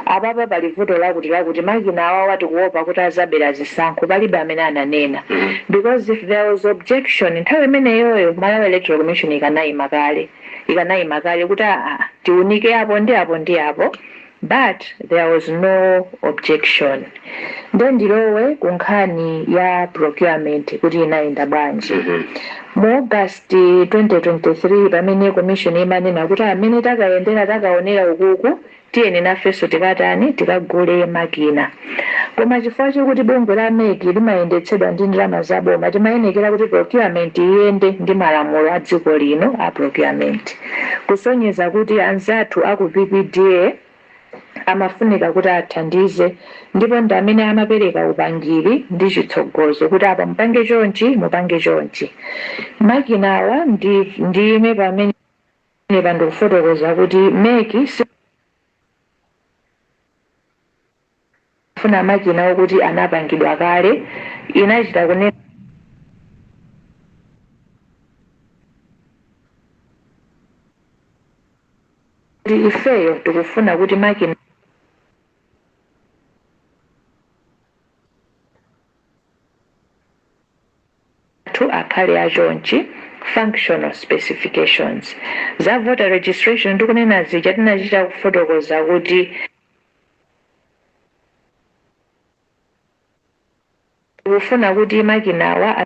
apapa pali vuto lakuti lakuti makina awawa tikuopa kuti azabera zisankho palibe amene ananena because if there was objection nthawi imeneyoyo malawi electoral commission ikanayima kale ikanayima kale kuti aa tiunike apo ndi apo ndi apo But there was no objection. Nde ndilowe ku nkhani ya procurement kuti inayenda bwanji. Mu August 2023 pamene commission imanena kuti mmene takayendera takaonera ukuku tiyeni nafenso tikatani tikagule makina. Koma chifukwa chokuti bungwe la mec limayendetsedwa ndi ndalama za boma timayenekera kuti procurement iyende ndi malamulo a dziko lino a procurement. Kusonyeza kuti anzathu a ku PPDA amafunika kuti athandize ndipo ndi amene amapereka upangiri ndi chitsogozo kuti apa mupange chonchi, mupange chonchi. Makinawa ndiime pamenepa ndikufotokozereni kuti mec si. Pofuna makina okuti anapangidwa kale, inachita kunena. kuti, Ifeyo tikufuna kuti makina. athu akhale a chonchi. functional specifications za voter registration tikunena zija tinachita kufotokoza kuti. Tikufuna kuti makinawa a.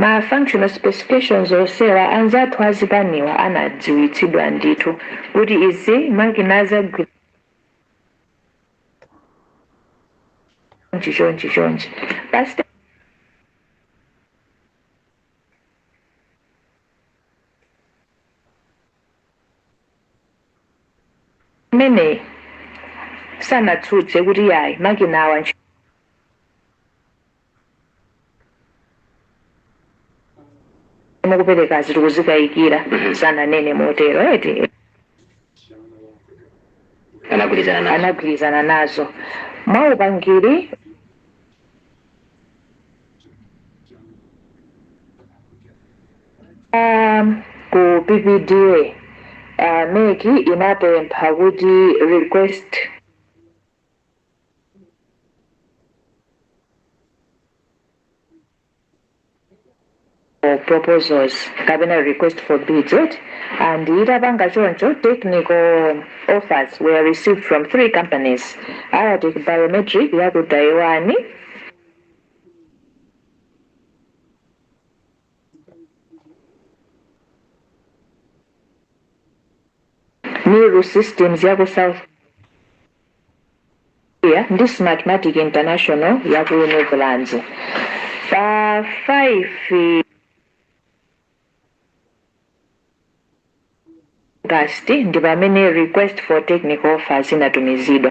Ma functional specifications onsewa anzathu azipaniwa anadziwitsidwa ndithu kuti izi makina azagwira chonchi chonchi chonchi basi imeneyi sanatsutse kuti yayi makinawa ntchito mukupereka tikuzikayikira sananene motero eti anagwirizana nazo anagwirizana nazo mwaupangiri Um, ku PPD uh, MEC inapempha kuti request for proposals kapena request for bids eti and itapanga choncho technical offers were received from three companies Aratek biometric ya ku taiwan miru systems ya ku south Korea ndi Smartmatic International ya ku Netherlands. Pa 5 August ndi pamene request for technical offers inatumizidwa.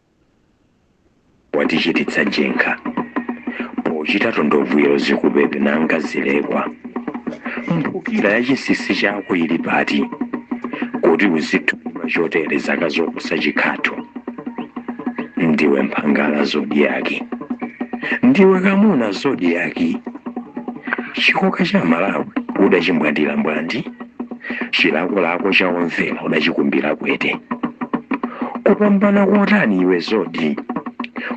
watichititsa jenkha pochita tondovi yo zikupepe nanga zilekwa mphukira ya chisisi chako ili pati kuti uzithunyira chotere zaka zoposa chikhatho ndiwe mphangala Zodiak ndiwe kamuna Zodiak chikoka cha malawi udachimbwandira mbwandi chilakolako cha omvera udachikumbira kwete kupambana kotani iwe Zodiak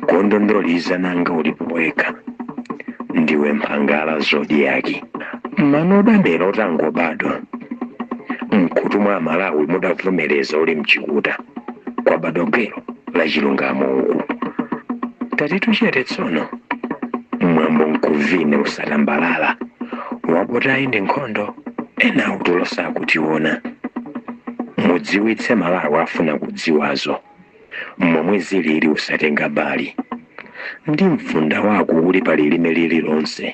kondondoliza nanga ulipo wekha ndiwe mphangala Zodiak mano udamera utangobadwa mkutu mwa amalawi mudavomereza uli mchikuta kwabadwa gwero la chilungamo uku tatitu chete tsono mwambo mkumvere usatambalala wabodzayi ndi nkhondo ena utulo sakutiona mudziwitse malawi afuna kudziwazo momwe zilili usatenga mbali ndi mfunda wako uli pa lilime lililonse,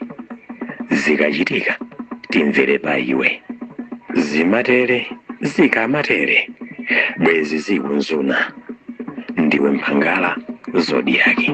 zikachitika timvere pa iwe. Zimatere, zikamatere bwenzi zikunzuna, ndiwe mphangala zodi yake.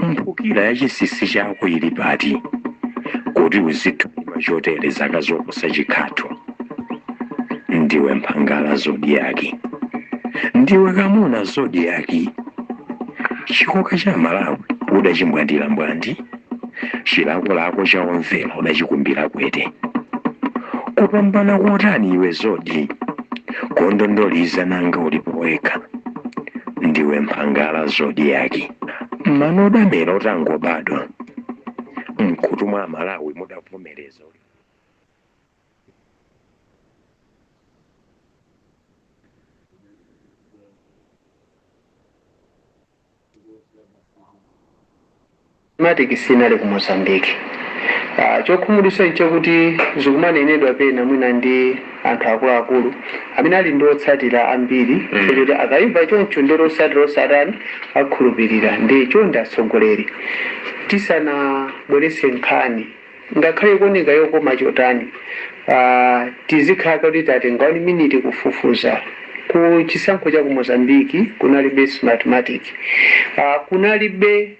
mphukira ya chisisi chako ili pati kuti uzithulima chotere zaka zoposa chikhatho ndiwe mphangala zodi yake ndiwe kamuna zodi yake chikoka cha Amalawi udachimbwandira mbwandi chilakolako cha omvera udachikumbira kwete kupambana kotani iwe zodi kondondoliza nanga ulipo wekha ndiwe mphangala zodi yake mano damera utangobadwa mkhutu mwa Amalawi mudavomereza uli matic sinali ku Mozambique. Aaa chokhumudwisa nchakuti zikumanenedwa pena mwina ndi anthu akuluakulu amene ali ndi otsatira ambiri chifukwa choti akaimva choncho ndiye kuti otsatira onse atani akhulupirira ndiye chonde atsogoleri tisanabweretse nkhani Ngakhale ikuoneka yokoma chotani, a, tizikhala kuti tatenga 1 miniti kufufuza. Ku chisankho cha ku Mozambique kunalibe Smartmatic. A, kunalibe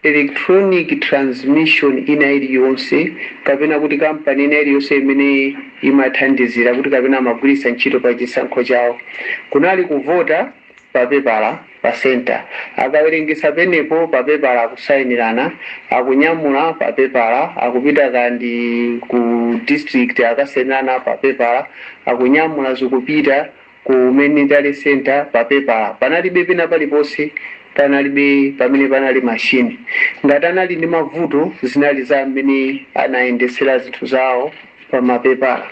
electronic transmission ina iliyonse kapena kuti kampani ina iliyonse imene imathandizira kuti kapena amagwiritsa ntchito pa chisankho chawo. Kunali kuvota papepala pa centre akawerengetsa pomwepo papepala akusainirana akunyamula pa pepala akupita kaya ndi ku district akasainirana pa pepala akunyamula zikupita ku main tally centre pa pepala panalibe pena paliponse panalibe pamene panali machine ngati anali ndi mavuto zinali za mmene anayendesera zinthu zawo pamapepala.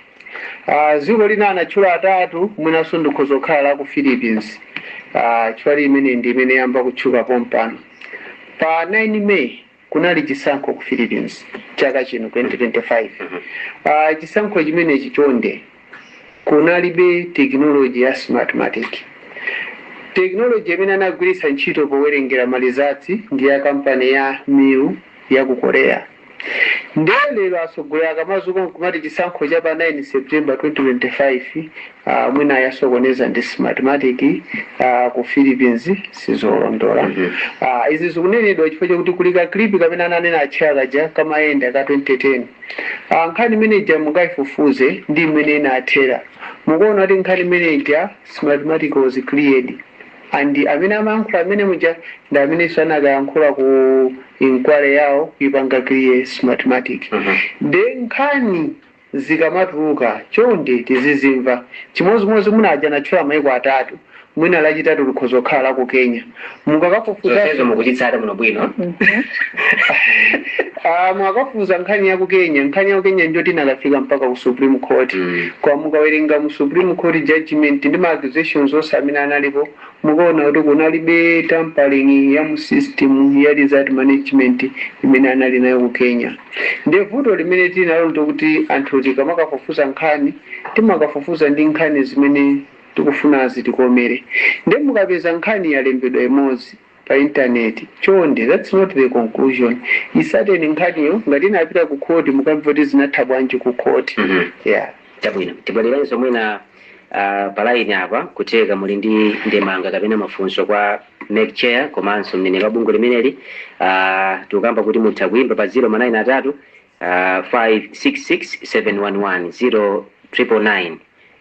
A, dziko lina anatchula atatu, mwinanso likhoza kukhala la ku Philippines. A, chifukwa ili imene ndi imene yayamba kutchuka pompano. Pa 9 May kunali chisankho ku Philippines chaka chino 2025. A, chisankho chimenechi chonde kunalibe tekinoloji ya Smartmatic. Tekinoloji imene anagwiritsa ntchito powerengera ma results ndi ya kampani ya Miru ya ku Korea. Nde lero atsogoleri akamadzuka nkumati chisankho cha pa 9 September 2025 aah mwina ayasokoneza ndi smartmatic aah ku Philippines sizolondola aah izi zikunenedwa chifukwa chakuti kuli ka clip kamene ananena Atcheya kaja kamayenda ka 2010 aah nkhani imene ija mukaifufuze ndi mmene inathera mukaona kuti nkhani imene ija smartmatic was cleared. And amene amayankhula mmene muja ndi amenenso anakayankhula ku inquiry yawo kuipanga clear smartmatic. Nde nkhani zikamatuluka chonde tizizimva. Chimodzimodzi mwina aja anatchula maiko atatu mwina lachitatu likhoza kukhala la ku Kenya. Mukakafufuzaso. Zonsezo mukuchitsata bwinobwino. Aaa mukafufuza nkhani yaku Kenya nkhani yaku Kenya ndiyoti inakafika mpaka ku supreme court koma mukawerenga mu supreme court judgement ndi ma accusations onse amene analipo mukaona kuti kunalibe tampering ya mu system ya result management imene anali nayo ku Kenya ndiye vuto limene tili nalo ndiloti anthu tikamakafufuza nkhani timakafufuza ndi nkhani zimene tikufuna zitikomere ndiye mukapeza nkhani yalembedwa imodzi pa internet chonde that's not the conclusion isateni nkhaniyo ngati inapita ku court mukamve kuti zinatha bwanji ku court Mhm. yeah chabwino tibwererenso mwina uh, pa laini apa kutheka muli ndi ndemanga kapena mafunso kwa mec chair komanso mneneri wa bungwe limeneli uh, tikukamba kuti mutha kuimba pa 0 ma 9 atatu uh, 566 711 0 triple 9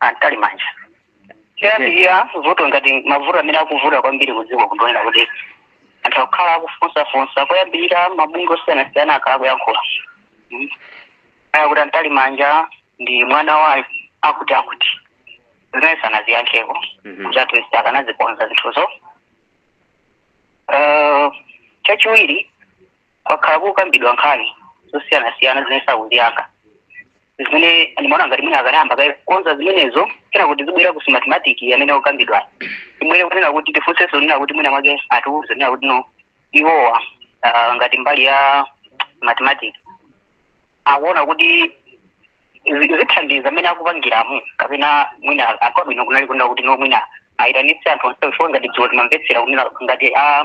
a Mtalimanja koyambirira vuto ngati mavuto amene akuvuta kwambiri kudziko kuno ndi onena kuti anthu akukhala akufunsafunsa koyambirira mabungwe osiyanasiyana akhala akuyankhula Mm. akuti a Mtalimanja ndi mwana wa akuti akuti zimene sanaziyankheko Mhm. kuti at least akanazikonza zinthuzo Eh, chachiwiri kwakhala kukambidwa nkhani zosiyanasiyana zimene sakuziyankha zimene ndimaona ngati mwina akanayamba kaye kukonza zimenezo kenako tizibwera ku smartmatic amene akukambidwa imwene kunena kuti tifunsenso nena kuti mwina mwake atiuze nena kuti no iwowa ah, ngati mbali ya smartmatic akuona kuti zi- zithandiza mmene akupangiramo kapena mwina kwabwino kunali kunena kuti no mwina ayitanitse anthu onse chifukwa ngati dziko timamvetsera kunena ngati a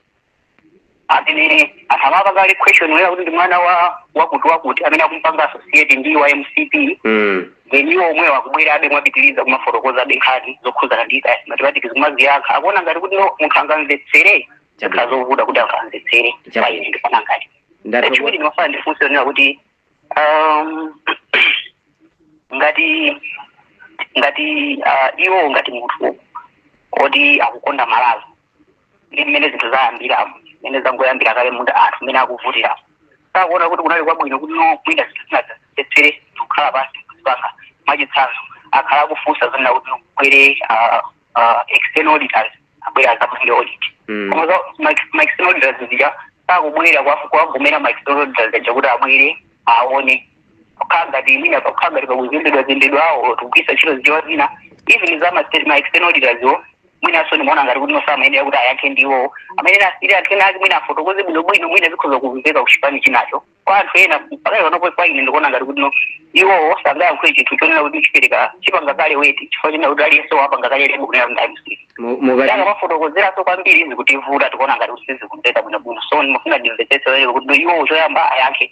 amene akumapanga kale question onena kuti ndi mwana wa wakuti wakuti amene akumpanga associate ndi wa mcp mm. then iwo omwewo akubwerabe mwapitiriza kumafotokozabe nkhani zokhuzana ndi za smartmatic kumaziyankha akuona ngati kuti no munthu angamvetsere zakhala zovuta kuti angamvetsere Chabwino. paine ndifana ngati Ndatokoza. chachiwiri ndimafuna ndifunse kunena kuti um, ngati ngati uh, iwo ngati munthu oti akukonda malawi ndi mmene zinthu zayambiramo mmene zangoyambira kale muja anthu mmene akuvutira sakuona kuti kunali kwabwino kuti no mwina zinthu zinayenera kukhala pansi kuzipanga mwachitsanzo akhala akufunsa zonena kuti kubwere ah, ah, external auditors abwera azapange audit Mm. koma za- ma- ma external auditors zija sakubwera kwa- kuwagomera ma external auditors aja kuti abwere aone kukhala ngati mwina pakukhala ngati pakuzembedwa zembedwa so tikugwiritsa ntchito zichewa zina even za ma state- ma external auditors wo mwinanso ndimaona ngati kuti nonse amayenera kuti ayankhe ndiwo amene ali anthu ena ake mwina afotokoze bwinobwino mwina zikhoza kumveka kuchipani chinacho kwa anthu ena pakati panopo kwa ine ndikuona ngati kuti no iwowo sangayankhule chinthu chonena kuti chipereka chipanga kale weight chifukwa chonena kuti aliyense wapanga kale label kunena kuti amusiri Mu- mukati danga mafotokozeranso kwambiri izi kuti vuta tikuona ngati kuti sizikumveka bwinobwino so ndimafuna ndimvetsetse lero kuti no iwowo choyamba ayankhe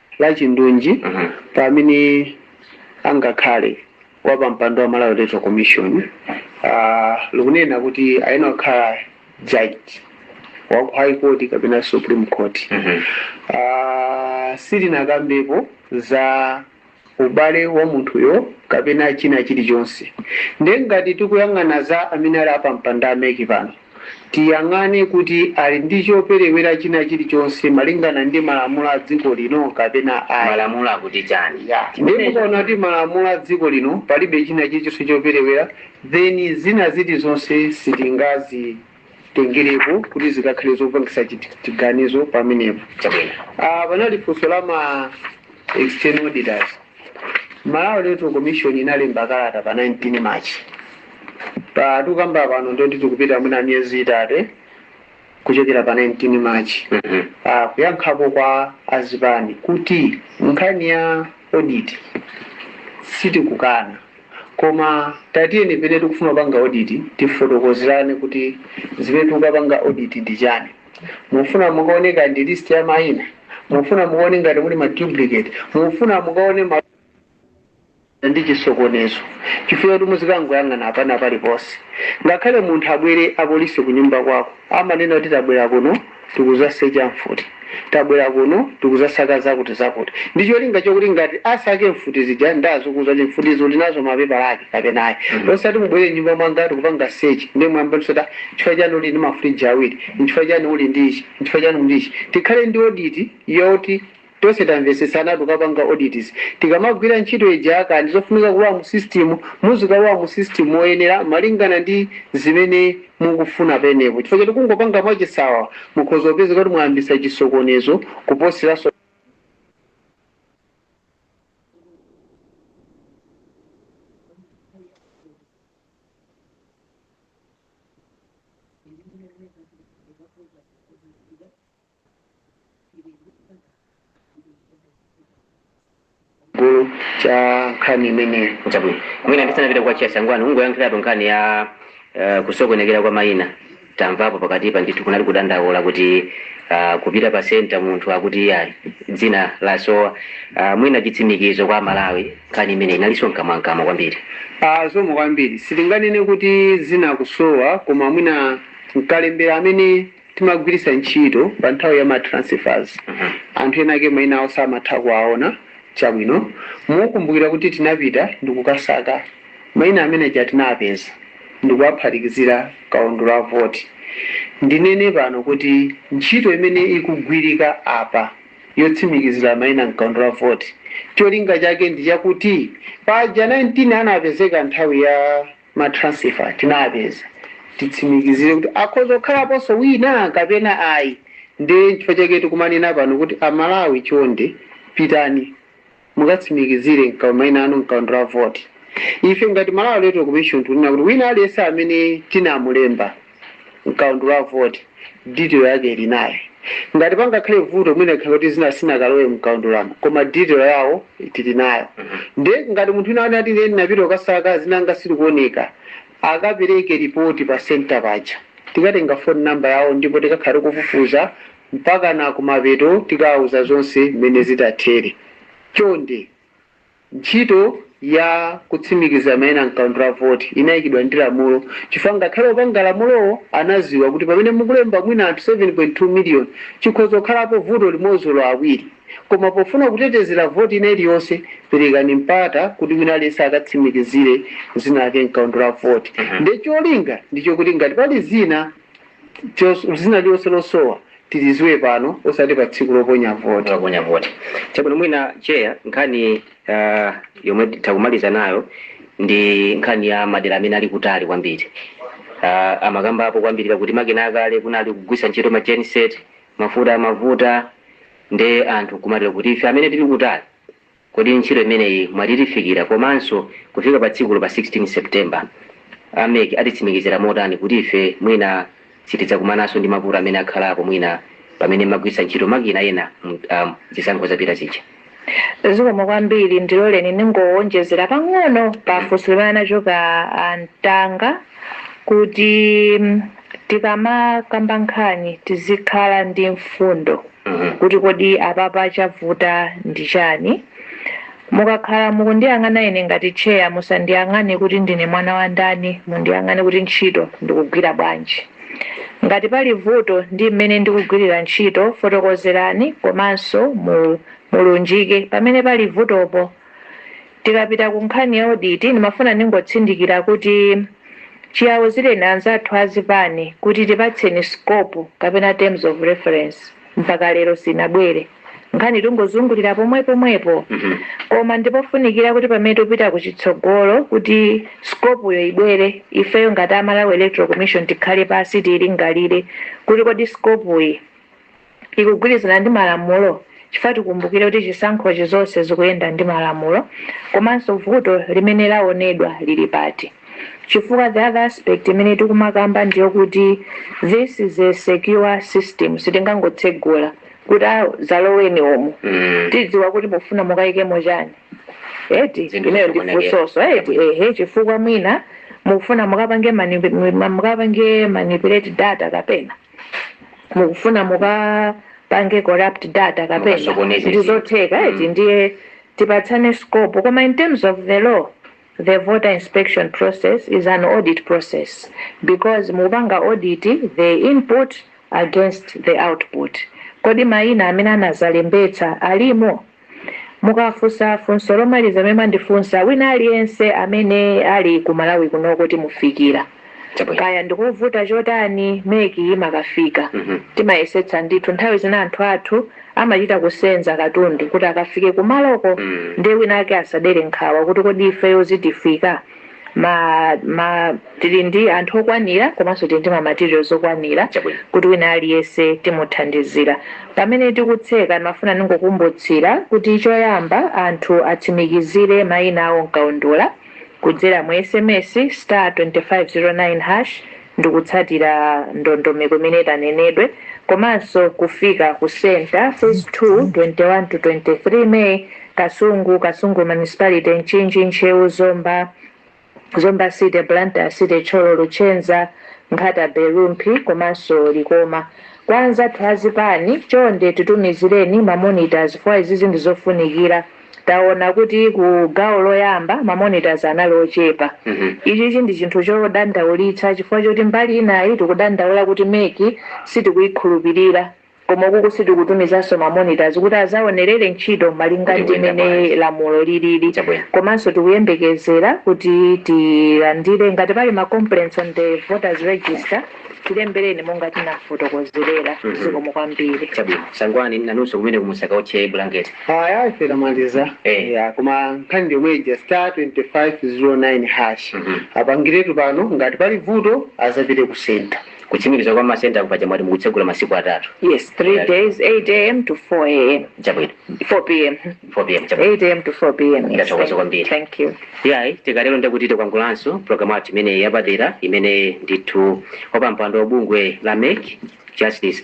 lachindunji pa amene angakhale wapampando wa Malawi Electoral Commission ah, likunena kuti ayenera kukhala judge wa ku high court kapena supreme court Ah, silinakambepo za ubale wa munthuyo kapena china chilichonse ndiye ngati tikuyang'ana za amene ali apampando a MEC pano tiyang'ane kuti ali ndi choperewera china chilichonse malingana ndi malamulo a dziko lino kapena ayi. Malamulo akuti chani? Yeah. Ndiye Chimenecho. mukaona kuti malamulo a dziko lino palibe china chilichonse choperewera then zina zilizonse sitingazitengereko kuti zikakhale zopangisa chit- chiganizo pamenepo. Chabwino. Ah, panali funso la ma external auditors Malawi Electoral Commission inalemba kalata pa 19 March pa tikukamba pano ndiye tikupita mwina miyezi itatu kuchokera pa 19 March Mhm. ah, kuyankhapo kwa azipani kuti nkhani ya audit sitikukana koma tatiyeni pomwe tikufuna kupanga audit tifotokozerane kuti zimene tikukapanga audit ndi chani mufuna mukaone kaya ndi list ya maina mufuna mukaone ngati muli ma duplicate mufuna mukaone ma ndi chisokonezo chifukwa kuti muzikangoyang'ana apana paliponse ngakhale munthu abwere apolisi ku nyumba kwako amanena kuti tabwera kuno tikuzasecha mfuti tabwera kuno tikuzasaka zakuti zakuti ndi cholinga chokuti ngati asaka mfuti zija ndi uziwauza kuti mfutizo ndinazo mapepala ake kapena ayi osati mubwere m'nyumba mwanga tikupanga sechi ndi mwamba ndisota Nchifukwa chiyani uli ndi mafriji awiri? Nchifukwa chiyani uli ndi ichi? Nchifukwa chiyani uli ndi ichi? Tikhale ndi audit yoti tonse tamvetsetsana tikukapanga audit izi. Tikamagwira ntchito ija kaya ndi zofunika kulowa mu system, muzikalowa mu system moyenera malingana ndi zimene mukufuna pamenepo. Chifukwa choti kungopanga mwachisawawa mukhoza kupezeka kuti mwayambitsa chisokonezo kuposeranso. gulu la nkhani imeneyo chabwino mwina ndisanapita kwa Chair Sangwani ungoyankhiratu nkhani ya eh, kusokonekera kwa mayina Tamvapo pakatipa ndithu kunali kudandaula kuti uh, kupita pa center munthu akuti iyayi dzina lasowa uh, mwina chitsimikizo kwa a Malawi nkhani imeneyi inalinso mkamwamkamwa kwambiri uh, zomwe kwambiri sitinganene kuti zina likusowa koma mwina mkalembera amene timagwiritsa ntchito pa nthawi ya ma transfers mm -hmm. anthu ena ake maina awo simatha kuwaona chabwino mukumbukira kuti tinapita ndikukasaka Maina amene aja tinapeza ndikuwaphatikizira mkaundula wa voti. Ndinene pano kuti ntchito imene ikugwirika apa yotsimikizira maina mkaundula wa voti cholinga chake ndi chakuti paja 19 anapezeka nthawi ya ma transfer tinapeza titsimikizire kuti akhoza kukhalaponso wina kapena ayi nde nchifukwa chake tikumanena pano kuti a Malawi chonde pitani mukatsimikizire mka maina anu mkaundula wa voti ife ngati malawi electoral commission tikunena kuti wina aliyense amene tinamulemba mkaundula wa voti detail yake tili nayo ngati pangakhale vuto mwina likhala kuti zina silinakalowe mkaundulamo koma detail yawo tili nayo nde ngati munthu wina angati ine ndinapita kukasaka zina langa silikuoneka akapereke ripoti pa center paja tikatenga phone number yawo ndipo tikakhala tikufufuza mpakana kumapeto tikawawuza zonse mmene zitathere. Chonde ntchito ya kutsimikiza maina mkaundula wa voti inayikidwa ndi lamulo chifukwa ngakhale opanga lamulowo anaziwa kuti pamene mukulemba mwina anthu 7.2 million chikhoza kukhalapo vuto limodzi olo awiri koma pofuna kutetezera voti ina iliyonse perekani mpata kuti wina aliyense akatsimikizire zina lake mkaundula wa voti nde cholinga ndichokuti ngati pali zina chos- zina lilonse losowa tiliziwe pano osati pa tsiku loponya voti Loponya voti. Chabwino mwina chair nkhani uh, yomwe takumaliza nayo ndi nkhani ya madera amene ali kutali kwambiri. Uh, amakamba apo kwambiri kuti makina akale kunali kugwisa ntchito ma genset, mafuta amavuta nde anthu kumadera kuti ife amene tili kutali Kodi ntchito imeneyi mwina itifikira komanso kufika pa tsikulo pa 16 September, a mec atitsimikizira motani kuti ife mwina sitidzakumananso ndi mavuto amene akhalapo mwina pamene mmagwiritsa ntchito makina ena mu am, zisankho zapita zija? Zikomo kwambiri, ndiloleni ndingowonjezera pang'ono pa funso limene lachoka a Ntanga kuti tikamakamba nkhani tizikhala ndi mfundo. kuti kodi apapa chavuta ndi chani? Mukakhala mukundiyang'ana ine ngati chair musandiyang'ane kuti ndine mwana wa ndani mundiyang'ane kuti ntchito ndikugwira bwanji. Ngati pali vuto ndi mmene ndikugwilira ntchito fotokozerani komanso mulunjike pamene pali vutopo. Tikapita ku nkhani ya audit, ndimafuna ndingotsindikira kuti chiauzireni anzathu a zipani kuti tipatseni scope kapena terms of reference mpaka lero sinabwere. Nkhani tungozungulira pomwepomwepo. Koma ndipofunikira kuti pamene tikupita ku chitsogolo kuti scope yo ibwere, ifeyo ngati a Malawi Electoral Commission tikhale pansi tiilingalire kuti kodi scope yi, ikugwirizana ndi malamulo chifukwa tikumbukire kuti chisankhochi zonse zikuyenda ndi malamulo komanso vuto limene laonedwa lili pati chifukwa the other aspect imene tikumakamba ndiyokuti this is a secure system sitingangotsegula kuti dzaloweni umu Mm. tidziwa kuti mufuna mukayikemo chani eti ineyo ndifunsenso eti ehe chifukwa mwina mukufuna mukapange manip- mukapange manipulate data kapena mukufuna mukapange corrupt data kapena ndi zotheka eti Mm. ndiye tipatsane scope koma in terms of the law the voter inspection process is an audit process because mukupanga audit the input against the output kodi mayina amene anazalembetsa alimo Mukafunsa funso lomaliza limene mwandifunsa wina aliyense amene ali ku Malawi kunoko timufikira. Chabwino. Kaya ndikovuta chotani MEC imakafika. Timayesetsa ndithu. Nthawi zina anthu athu amachita kusenza katundu kuti akafike kumaloko ndiye wina ake asadere nkhawa kuti kodi ifeyo zitifika? ma ma tili ndi anthu okwanira komanso tili ndi ma materials okwanira Chabwino. kuti wina aliyense timuthandizira pamene tikutseka ndimafuna ndingokumbutsira kuti choyamba anthu atsimikizire maina awo mkaundula kudzera mu sms star 2509 hash ndi kutsatira ndondomeko imene itanenedwe komanso kufika ku center, Phase 2, 21 to 23 May, Kasungu, Kasungu Municipality, Mchinji, Ntcheu, Zomba, Zomba City, Blantyre City, Thyolo, Luchenza, Nkhata Bay, Rumphi komanso Likoma. Kwa anzathu azipani, chonde titumizireni ma monitors fwa izizi ndi zofunikira. Taona kuti ku gawo loyamba ma monitors anali ochepa. Ichichi ndi chinthu chodandaulitsa chifukwa choti mbali inayi tikudandaula kuti MEC sitikuyikhulupilira koma ukuku sitikutumizanso ma monitors kuti azaonelere ntchito malinga ndi mene lamulo lilili komanso tikuyembekezera kuti tilandire ngati pali ma complaints on the voters register. Tilembereni monga tinafotokozerera. Mhm. Zikomo kwambiri. Chabwino. Sangwani nanunso komweko musakaotche bulangeti. Haya ife tamaliza. Eh. Ya, koma nkhani ndi yomwe ija star 2509 hash. Mhm. Apangiretu pano ngati pali vuto azapitire ku center. Kutsimikiza kwa masenta paja mwati mukutsegula masiku atatu. Yes, three days, 8 a.m. to 4 a.m. Chabwino. 4 p.m. 4 pm chabwino 8 am to 4 pm yes, thank, kwambiri thank you yayi tikatero nde kuti takwangulanso programu yathu imeneyi yapadera imene ndithu wapampando wa bungwe la mek justice